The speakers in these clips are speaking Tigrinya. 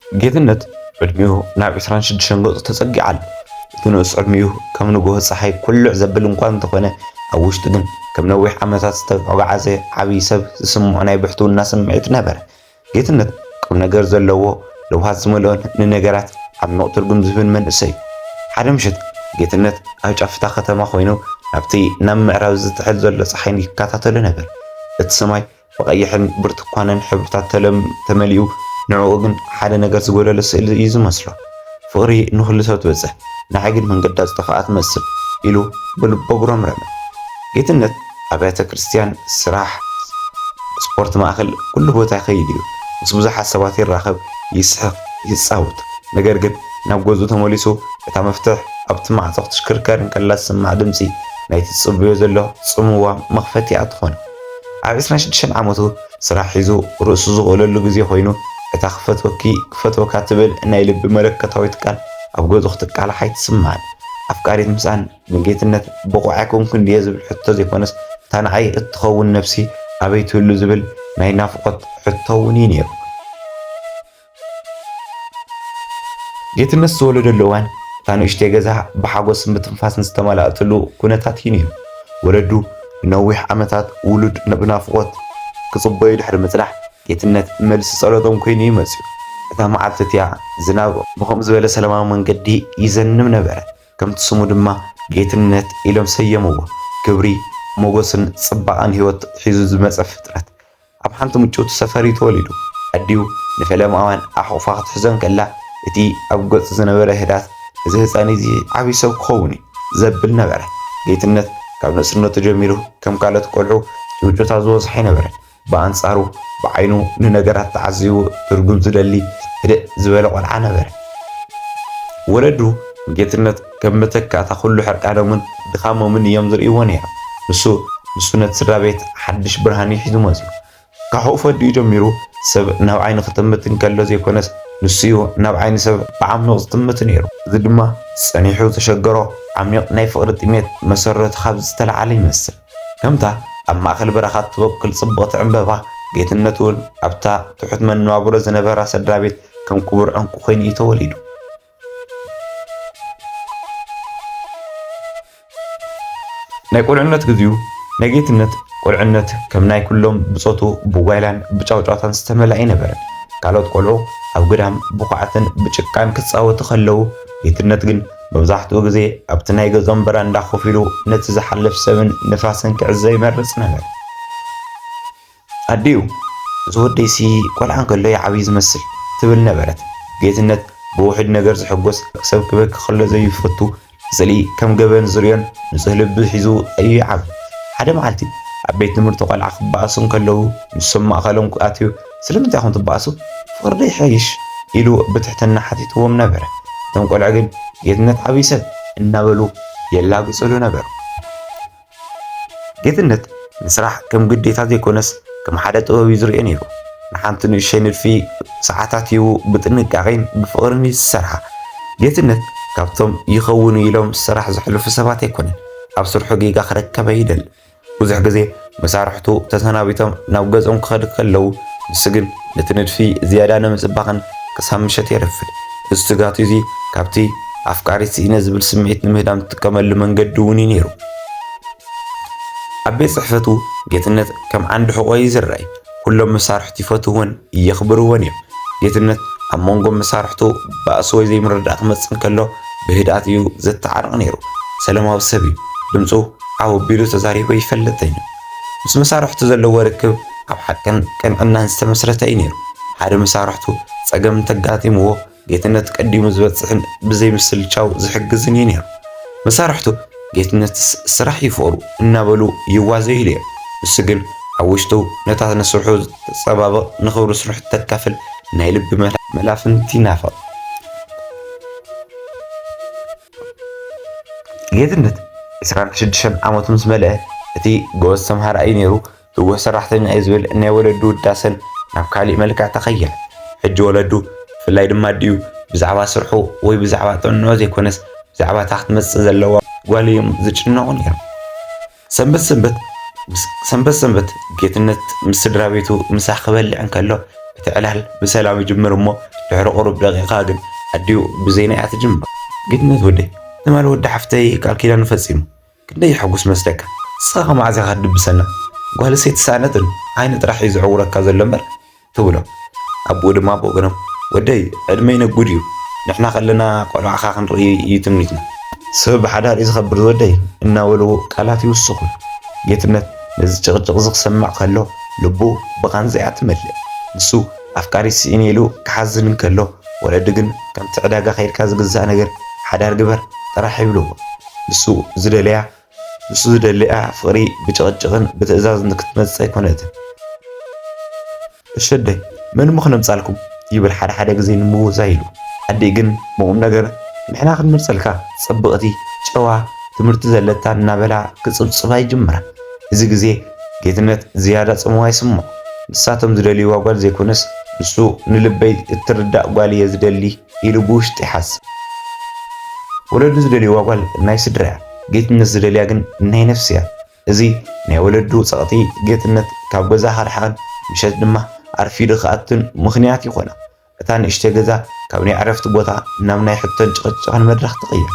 ጌትነት ዕድሚኡ ናብ ዕስራን ሽዱሽተን ገጹ ተጸጊዑ ኣሎ። እቲ ንኡስ ዕድሚኡ ከም ንግሆ ጸሓይ ኩልዕ ዘብል እኳ እንተኾነ፣ ኣብ ውሽጡ ግን ከም ነዊሕ ዓመታት ዝተጓዕዘ ዓቢ ሰብ ዝስምዖ ናይ ብሕትውና ስምዒት ነበረ። ጌትነት ቁምነገር ዘለዎ፣ ለውሃት ዝመልኦን ንነገራት ዓሚቝ ትርጉም ዝህብን መንእሰይ'ዩ። ሓደ ምሸት ጌትነት ኣብ ጫፍ እታ ከተማ ኮይኑ ናብቲ ናብ ምዕራብ ዝጥሕል ዘሎ ጸሓይ ይከታተሎ ነበረ። እቲ ሰማይ ብቐይሕን ብርቱኳንን ሕብርታት ተለም ተመሊኡ ንዕኡ ግን ሓደ ነገር ዝጎደሎ ስእሊ እዩ ዝመስሎ። ፍቕሪ ንኹሉ ሰብ ትበጽሕ ንዓይ ግን መንገዳ ዝጠፍኣ ትመስል ኢሉ ብልቡ ኣጉረምረመ። ጌትነት ኣብያተ ክርስትያን፣ ስራሕ፣ ስፖርት ማእከል ኩሉ ቦታ ይኸይድ እዩ። ምስ ብዙሓት ሰባት ይራኸብ፣ ይስሕቕ፣ ይጻወት። ነገር ግን ናብ ገዝኡ ተመሊሱ እታ መፍትሕ ኣብቲ ማዕጾ ክትሽክርከር እንከላ ዝስማዕ ድምጺ ናይቲ ዝጽበዮ ዘሎ ጽምዋ መኽፈቲኣ ትኾን። ኣብ ዕስራን ሽዱሽተን ዓመቱ ስራሕ ሒዙ ርእሱ ዝኽእለሉ ግዜ ኮይኑ፣ እታ ክፈትወኪ ክፈትወካ ትብል ናይ ልቢ መለኮታዊት ቃል ኣብ ገጹ ክትቃላሕ ኣይትስምዓን። ኣፍቃሪት ምስኣን ንጌትነት ብቑዕ ኣይኮንኩን ድየ ዝብል ሕቶ ዘይኮነስ እታ ንዓይ እትኸውን ነብሲ ኣበይ ትህሉ ዝብል ናይ ናፍቖት ሕቶ'ውን እዩ ነይሩ። ጌትነት ዝተወለደሉ እዋን እታ ንእሽተይ ገዛ ብሓጎስን ብትንፋስን ዝተመልኣትሉ ኩነታት እዩ ነይሩ። ወለዱ ንነዊሕ ዓመታት ውሉድ ብናፍቖት ክጽበዩ ድሕሪ ምጽናሕ፣ ጌትነት መልሲ ጸሎቶም ኮይኑ እዩ መጺኡ። እታ መዓልቲ እቲኣ ዝናብ ብኸምኡ ዝበለ ሰላማዊ መንገዲ ይዘንብ ነበረ። ከምቲ ስሙ ድማ ጌትነት ኢሎም ሰየምዎ። ክብሪ፣ ሞጎስን ጽባቐን ህይወት ሒዙ ዝመጸ ፍጥረት። ኣብ ሓንቲ ምጭውቲ ሰፈር እዩ ተወሊዱ። ኣዲኡ ንፈለምኣውያን ኣሕቝፋ ክትሕዞ እንከላ፣ እቲ ኣብ ገጹ ዝነበረ ህድኣት፣ እዚ ህጻን እዚ ዓብዪ ሰብ ክኸውን እዩ ዘብል ነበረ። ጌትነት ካብ ንእስነቱ ጀሚሩ ከም ካልኦት ቈልዑ ጭውጭውታ ዝበዝሖ ኣይነበረን። ብኣንጻሩ ብዓይኑ ንነገራት ተዓዚቡ ትርጕም ዝደሊ ህድእ ዝበለ ቈልዓ ነበረ። ወለዱ ንጌትነት፣ ከም መተካእታ ኩሉ ሕርቃኖምን ድኻሞምን እዮም ዝርእይዎ ነይሮም። ንሱ ንሱ ነቲ ስድራቤት ሓድሽ ብርሃን እዩ ሒዙ መጺኡ። ካሕኡ ፈዲኡ ጀሚሩ ሰብ ናብ ዓይኑ ክጥምት እንከሎ ዘይኮነስ ንሱ እዩ ናብ ዓይኒ ሰብ ብዓሚቕ ዝጥምት ነይሩ። እዚ ድማ ጸኒሑ ዘሸገሮ ዓሚቕ ናይ ፍቕሪ ጥሜት መሰረቱ ካብዚ ዝተለዓለ ይመስል። ከምታ ኣብ ማእከል በረኻ እትበቁል ጽብቕቲ ዕምበባ፣ ጌትነት እውን ኣብታ ትሑት መነባብሮ ዝነበራ ሰድራቤት ከም ክቡር ዕንቊ ኮይኑ እዩ ተወሊዱ። ናይ ቁልዕነት ግዚኡ ናይ ጌትነት ቁልዕነት ከም ናይ ኩሎም ብጾቱ ብጓይላን ብጫውጫውታን ዝተመልኣ ኣይነበረን። ካልኦት ቆልዑ ኣብ ግዳም ብኹዓትን ብጭቃን ክጻወቱ ከለዉ፣ ጌትነት ግን መብዛሕትኡ ግዜ ኣብቲ ናይ ገዝኦም በራንዳ ኮፍ ኢሉ ነቲ ዝሓልፍ ሰብን ንፋስን ክዕዘብ ይመርጽ ነበረ። ኣዲኡ፣ እዚ ወደይሲ ቆልዓ እንከሎ ይዓብይ ዝመስል፣ ትብል ነበረት። ጌትነት ብውሑድ ነገር ዝሕጎስ፣ ሰብ ክበኪ ከሎ ዘይፈቱ፣ ንስእሊ ከም ገበን ዝርእዮን ንጹህ ልቢ ሒዙ እዩ ይዓቢ። ሓደ መዓልቲ ኣብ ቤት ትምህርቲ ቆልዓ ክበኣሱ እንከለዉ ንሶም ማእከሎም ኣትዩ ስለምንታይ ኢኹም ትበኣሱ? ፍቕሪዶ ይሓይሽ? ኢሉ ብትሕትና ሓቲትዎም ነበረ። እቶም ቆልዑ ግን ጌትነት ዓብይ ሰብ እናበሉ የላግጽሉ ነበሩ። ጌትነት ንስራሕ ከም ግዴታ ዘይኮነስ ከም ሓደ ጥበብ እዩ ዝርእዮ ነይሩ። ንሓንቲ ንእሸይ ንድፊ ሰዓታት ሂቡ ብጥንቃቄን ብፍቕርን እዩ ዝሰርሓ። ጌትነት ካብቶም ይኸውን እዩ ኢሎም ስራሕ ዘሕልፉ ሰባት ኣይኮነን። ኣብ ስርሑ ጌጋ ክረከብ ኣይደልን። ብዙሕ ግዜ መሳርሕቱ ተሰናቢቶም ናብ ገዝኦም ክኸዱ ከለዉ ንሱ ግን ነቲ ንድፊ ዝያዳ ንምጽባቕን ክሳብ ምሸት የረፍድ። እዚ ትግሃቱ እዚ ካብቲ ኣፍቃሪት ስኢነ ዝብል ስምዒት ንምህዳም ዝጥቀመሉ መንገዲ እውን እዩ ነይሩ። ኣብ ቤት ጽሕፈቱ ጌትነት ከም ዓንዲ ሕቖ እዩ ዝረኣይ። ኩሎም መሳርሕቱ ይፈትውዎን የኽብርዎን እዮም። ጌትነት ኣብ መንጎ መሳርሕቱ ባእሲ ወይ ዘይምርድዳእ ክመጽእ እንከሎ ብህድኣት እዩ ዘተዓርቕ ነይሩ። ሰለማዊ ሰብ እዩ። ድምጹ ዓው ኣቢሉ ተዛሪቡ ኣይፈልጥን እዩ። ምስ መሳርሕቱ ዘለዎ ርክብ ኣብ ሓቅን ቅንዕናን ዝተመስረተ እዩ ነይሩ። ሓደ መሳርሕቱ ጸገም እንተጋጢምዎ ጌትነት ቀዲሙ ዝበጽሕን ብዘይምስልቻው ዝሕግዝን እዩ ነይሩ። መሳርሕቱ ጌትነትስ ስራሕ እዩ ፍቕሩ እናበሉ ይዋዘዩሉ እዮም። ንሱ ግን ኣብ ውሽጡ ነታ ንስርሑ እተጸባብቕ ንኽብሪ ስርሑ እተካፍል ናይ ልቢ መላፍንቲ ይናፍቕ። ጌትነት ዕስራን ሽዱሽተን ዓመቱ ምስ መልአ እቲ ጎበዝ ተምሃራይ እዩ ነይሩ፣ ትጉህ ሰራሕተኛ እዩ ዝብል ናይ ወለዱ ውዳሰን ናብ ካሊእ መልክዕ ተቐየረ። ሕጂ ወለዱ ብፍላይ ድማ ኣዲኡ ብዛዕባ ስርሑ ወይ ብዛዕባ ጥዕንኡ ዘይኮነስ ብዛዕባ እታ ክትመጽእ ዘለዋ ጓሉ እዮም ዝጭነቑ ነይሮም። ሰንበት ሰንበት ሰንበት ሰንበት ጌትነት ምስ ስድራ ቤቱ ምሳ ክበልዕ እንከሎ እቲ ዕላል ብሰላም ይጅምር እሞ ድሕሪ ቁሩብ ደቂቃ ግን ኣዲኡ ብዜና እያ ትጅምር። ጌትነት ወደይ ትማሊ ወዲ ሓፍተይ ቃል ኪዳኑ ፈጺሙ ክንደይ የሐጉስ መስለካ ንስኻ ከ መዓዝ ኢኻ ትድብሰና ጓልስ ኣይተሳእነትን ዓይኒ ጥራሕ እዩ ዝዕውረካ ዘሎ እምበር ትብሎ። ኣቦኡ ድማ ብወገኖም ወደይ ዕድመይ ነጉድ እዩ፣ ንሕና ከለና ቆልዓኻ ክንርኢ እዩ ትምኒትና። ሰብ ብሓዳር እዩ ዝኸብር ዝወደይ እናበሉ ቃላት ይውስኹ። ጌትነት ነዚ ጭቕጭቕ'ዚ ክሰምዕ ከሎ ልቡ ብቓንዛ እያ ትመልእ። ንሱ ኣፍቃሪት ስኢነ ኢሉ ክሓዝን እንከሎ ወለዱ ግን ከምቲ ዕዳጋ ከይድካ ዝግዛእ ነገር ሓዳር ግበር ጥራሕ ይብልዎ። ንሱ ዝደለያ ንሱ ዝደሊኣ ፍቅሪ ብጭቅጭቅን ብትእዛዝን ንክትመጽጽ ኣይኮነትን። እሸደይ መን እሞ ክነምጻልኩም ይብል ሓደ ሓደ ግዜ ንምውዛይ ኢሉ። ኣዲእ ግን ብቁምነገር ንሕና ክንመርጸልካ ጽብቅቲ ጨዋ ትምህርቲ ዘለታ እናበላ ክጽብጽባ ይጅምራ። እዚ ግዜ ጌትነት ዝያዳ ጽምዋ ይስምዖ። ንሳቶም ዝደልይዋ ጓል ዘይኮነስ ንሱ ንልበይ እትርዳእ ጓል እየ ዝደሊ ኢሉ ብውሽጡ ይሓስብ። ወለዱ ዝደልይዋ ጓል ናይ ስድራ እያ፣ ጌትነት ዝደልያ ግን ናይ ነፍሲ እያ። እዚ ናይ ወለዱ ጸቕጢ ጌትነት ካብ ገዛ ከርሕቐን ምሸት ድማ ኣርፊዱ ክኣቱን ምኽንያት ይኾና። እታ ንእሽተይ ገዛ ካብ ናይ ዕረፍቲ ቦታ ናብ ናይ ሕቶን ጭቕጭቕን መድረኽ ትቕየር።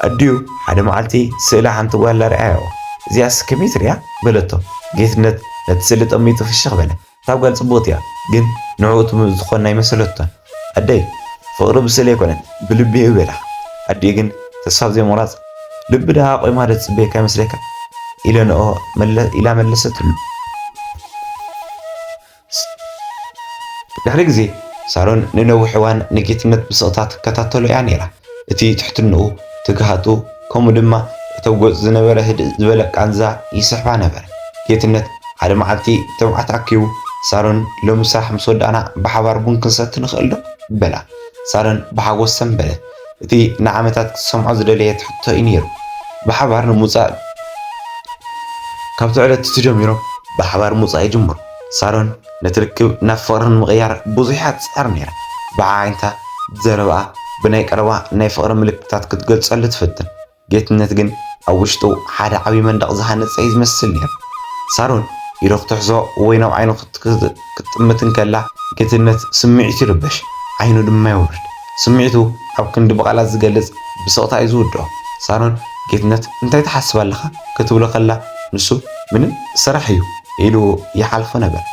ኣዲኡ ሓደ መዓልቲ ስእሊ ሓንቲ ጓል ኣርኣያዎ። እዚኣስ ከመይ ትርኣ? በለቶ። ጌትነት ነቲ ስእሊ ጠሚቱ ፍሽኽ በለ። እታ ጋል ጽብቅቲ እያ ግን ንዕኡ ትምእዝዝ ትኮን ኣይመሰለቶን ኣደይ ፍቅሪ ብስእሊ ኣይኮነን ብልቢ እዩ በይላካ ኣዲኡ ግን ተስፋ ብዘይ ምቁራጽ ልቢ ደኣ ቆይማ ዶ ትጽበየካ ይመስለካ ኢለ ንኦ ኢላ መለሰትሉ ድሕሪ ግዜ ሳሮን ንነዊሕ እዋን ንጌትነት ብስቅታ ትከታተሎ እያ ነይራ። እቲ ትሕትንኡ፣ ትግሃቱ፣ ከምኡ ድማ እቶም ገጹ ዝነበረ ህድእ ዝበለ ቃንዛ ይስሕባ ነበረ። ጌትነት ሓደ መዓልቲ ትብዓት ኣኪቡ፣ ሳሮን ሎሚ ስራሕ ምስ ወዳእና ብሓባር ቡን ክንሰቲ ንኽእልዶ? በላ። ሳሮን ብሓጎስ ሰምበለት። እቲ ንዓመታት ክትሰምዖ ዝደለየት ሕቶ እዩ ነይሩ። ብሓባር ንምውጻእ። ካብቲ ዕለት'ቲ ጀሚሮም ብሓባር ምውጻእ ይጅምሩ። ሳሮን። ነቲ ርክብ ናብ ፍቕሪ ንምቕያር ብዙሕ እያ ትጽዕር ነይራ። ብዓይንታ፣ ብዘረባኣ፣ ብናይ ቀረባ ናይ ፍቕሪ ምልክታት ክትገልጸሉ ትፍትን። ጌትነት ግን ኣብ ውሽጡ ሓደ ዓቢ መንደቕ ዝሃነጸ እዩ ዝመስል ነይሩ። ሳሮን ኢዱ ክትሕዞ ወይ ናብ ዓይኑ ክትጥምት እንከላ፣ ጌትነት ስምዒቱ ይርበሽ፣ ዓይኑ ድማ የውርድ። ስምዒቱ ኣብ ክንዲ ብቓላት ዝገልጽ ብስቕታ እዩ ዝውድኦ። ሳሮን ጌትነት እንታይ ትሓስብ ኣለኻ ክትብሎ ከላ ንሱ ምንም ስራሕ እዩ ኢሉ ይሓልፎ ነበረ።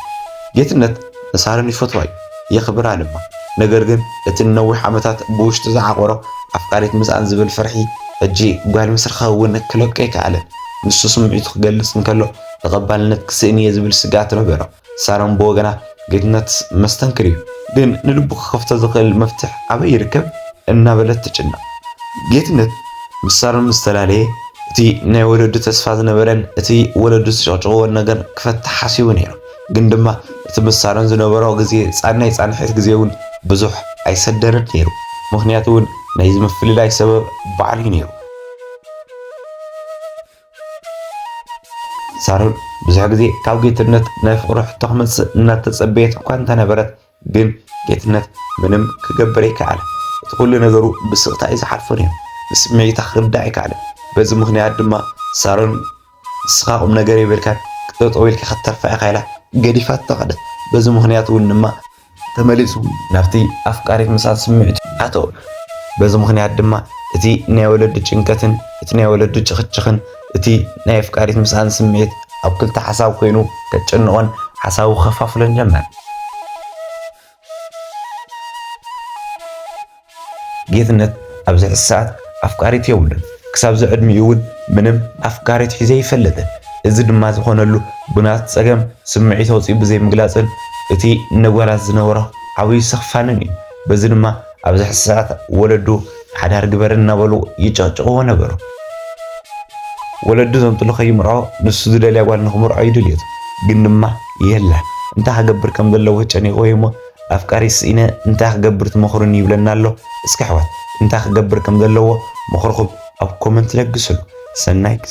ጌትነት ንሳሮን ይፈትዋ እዩ የኽብራ ድማ። ነገር ግን እቲ ንነዊሕ ዓመታት ብውሽጡ ዝዓቖሮ ኣፍቃሪት ምስኣን ዝብል ፍርሒ ሕጂ ጓል ምስ ረኸበ እውን ክለቆ ኣይከኣለን። ንሱ ስምዒቱ ክገልጽ እንከሎ ተቐባልነት ክስእን እየ ዝብል ስግኣት ነበሮ። ሳሮን ብወገና ጌትነት መስተንክር እዩ፣ ግን ንልቡ ክኸፍቶ ዝኽእል መፍትሕ ኣበይ ይርከብ እናበለት ትጭነቕ። ጌትነት ምስ ሳሮን ምስ ተላለየ እቲ ናይ ወለዱ ተስፋ ዝነበረን እቲ ወለዱ ዝጨቕጭቕዎን ነገር ክፈትሕ ሓሲቡ ነይሩ። ግን ድማ እቲ ምስ ሳሮን ዝነበሮ ግዜ ናይ ፃንሒት ግዜ እውን ብዙሕ ኣይሰደረን ነይሩ። ምኽንያቱ እውን ናይዚ ምፍልላይ ሰበብ ባዕሉ እዩ ነይሩ። ሳሮን ብዙሕ ግዜ ካብ ጌትነት ናይ ፍቕሪ ሕቶ ክመጽእ እናተጸበየት እኳ እንተነበረት ግን ጌትነት ምንም ክገብር ኣይከኣለን። እቲ ኩሉ ነገሩ ብስቕታ እዩ ዝሓልፎ ነይሩ። ንስምዒታ ክርዳእ ኣይከኣለን። በዚ ምኽንያት ድማ ሳሮን ንስኻ ቁም ነገር የብልካን ጠጠው ኢልካ ክትተርፋ ኢኻ ኢላ ገዲፋቶ ከደት። በዚ ምኽንያት እውን ድማ ተመሊሱ ናብቲ ኣፍቃሪት ምሳል ስምዒቱ ኣተወ። በዚ ምኽንያት ድማ እቲ ናይ ወለዲ ጭንቀትን እቲ ናይ ወለዲ ጭኽጭኽን እቲ ናይ ኣፍቃሪት ምሳል ስምዒት ኣብ ክልተ ሓሳብ ኮይኑ ከጨንቖን ሓሳቡ ከፋፍሎን ጀመረ። ጌትነት ኣብዚ ሕዚ ሰዓት ኣፍቃሪት የብሉን፣ ክሳብዚ ዕድሚኡ እውን ምንም ኣፍቃሪት ሒዙ ኣይፈልጥን። እዚ ድማ ዝኾነሉ ብናቱ ፀገም ስምዒት ኣውፂኡ ብዘይምግላፅን እቲ ንጓላት ዝነበሮ ዓብዩ ስኽፋንን እዩ። በዚ ድማ ኣብዚ ሕዚ ሰዓት ወለዱ ሓዳር ግበሪ እናበሉ ይጭቕጭቕዎ ነበሩ። ወለዱ ዘምጥሉ ከይምርዖ ንሱ ዝደልያ ጓል ንኽምርዖ እዩ ድልየቱ። ግን ድማ የለን እንታይ ክገብር ከምዘለዎ ጨኒቕዎ እዩ እሞ ኣፍቃሪ ስኢነ እንታይ ክገብር ትመኽሩኒ ይብለና ኣሎ እስኪ ኣሕዋት እንታይ ክገብር ከምዘለዎ ምኽርኹም ኣብ ኮመንት ለግስሉ ሰናይ ግዜ